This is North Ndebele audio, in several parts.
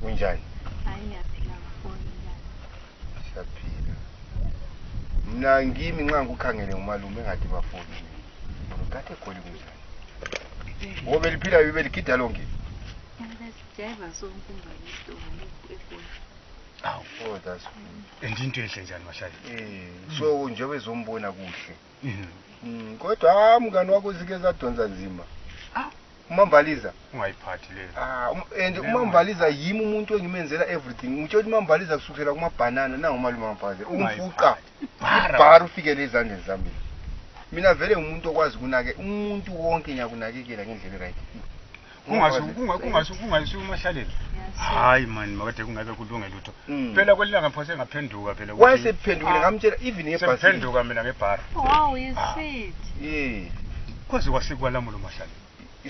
kunjani Hayi ngiyaphila ngafoni njani. siyaphila mna ngimi nxa ngikukhangele ngumalume engathi bafoni ngikathe egoli kunjani o beliphila beligida lonke Besijeva sonkumba yisitoni eGoli. oh that's good and into enhle njani mahlale Eh, so njengoba ezombona kuhle Mm, kodwa ah, mngani wakho zike zadonsa nzima Ah. umambaliza ungayiphathi leyo Ah, um- and umambaliza yimi umuntu engimenzela everything ngitsho ukuthi umambaliza kusukela kumabhanana nangumalume wamfaze umfuqa ibhara ufikele ezandleni zami mina vele ngumuntu okwazi kunake umuntu wonke ngiyakunakekela ngendlela right Kungasho- kunga- kungasho- kungasho umahlaleni hayi mani makade kungeke kulunge lutho Mm. phela kwelilanga phose ngaphenduka phela ukuthi- wayesephendukile Ah, ngamtshela even ngebhasi sengiphenduka mina ngebhara Wow, you sweet. ye kwaze kwasikwalamula umahlaleni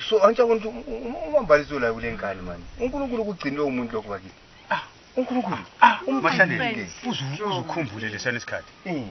so antsha ukuthi um- um- umambalisi olayo kule nkani mani unkulunkulu ukugcinile umuntu lokhu bakithi unkulunkulu umgcinile. mahlaleni uzukhumbule lesana isikhathi Mm.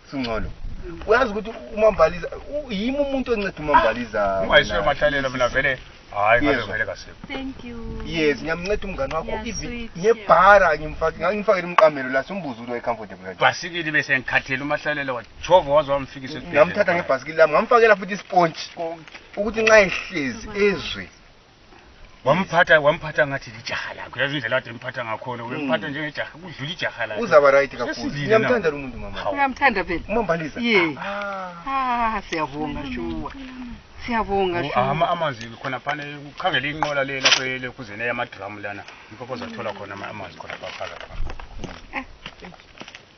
singcono uyazi ukuthi umambaliza u- yimi umuntu onceda umambaliza ungayiswe mina. emathalelo mina vele hayi ngabe Yezwa. vele kasekho Thank you. yes ngiyamnceda umngane wakho Yeah, even sweet, ngebhara ngimfake- ngangimfakele umqamelo la simbuza ukuthi wayecomfortable kanjani. bhasikili bese ngikhathele umahlalela wajova waze wamfikisa esibhedlela. ngamthatha ngebhasikili lami ngamfakela futhi ispontshi ukuthi nxa ehlezi ezwe wamphatha wamphatha ngathi lijaha lakho yazi indlela kade emphatha ngakhona uyemphatha hmm. njengejaha kudlula ijaha lakhe uzaba right kakhulu ngiyamthanda lo muntu mama ngiyamthanda phela umambaliza ye ah. ah siyabonga shuwa siyabonga oh, shuwa ama amanzi khona phana ukhangele inqola le lapho le kuzene yamadrum lana imphopo zathola khona amanzi khona phakathi eh.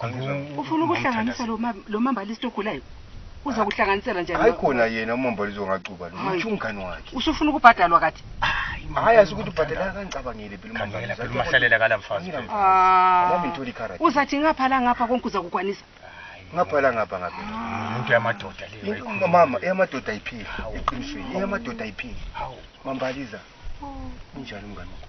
Angizwa- ufuna ukuhlanganisa lo ma- lo mambalisti ogulayo uza kuhlanganisela njani hayi khona yena umambalizo ngacuba lo Hayi. utsho umngani wakhe usufuna ukubhadalwa kathi hayi asikuthi ubhadela kangicabangele phela Khangela, phela umahlalela kala mfazi. Ah, Nami ngithola ikharadi. uzathi ngapha la ngapha konke uza kukwanisa ngaphala ngapha ngapha umuntu yamadoda leyo Into- mama eyamadoda ayipheli eqinisweni eyamadoda ayipheli mambaliza unjani umngani wakho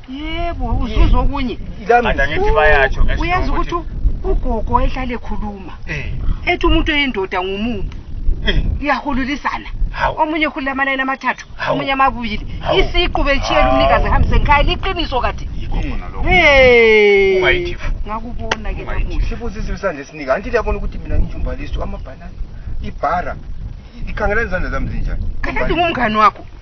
yebo uzuza okunye Ada ngithi bayatsho ngesho uyenza ukuthi ukuthi- ugogo ehlale ekhuluma Eh, ethi umuntu oyindoda ngumumbu eh, iyahululisana Hawu. omunye ekhulula amanani amathathu Hawu. omunye amabuyili Hawu. isiqu betshiyela umnikazi ehambise ngikhaya liqiniso kade yikho khona lokho. Hey. Ungayithi fu. ngakubona ke Ungayithi. namuhla sibuza izinto sanje sinika anti liyabona ukuthi mina ngijumbalisi amabhanana ibhara ikhangela izandla zami zinjani kanti ngumngani wakho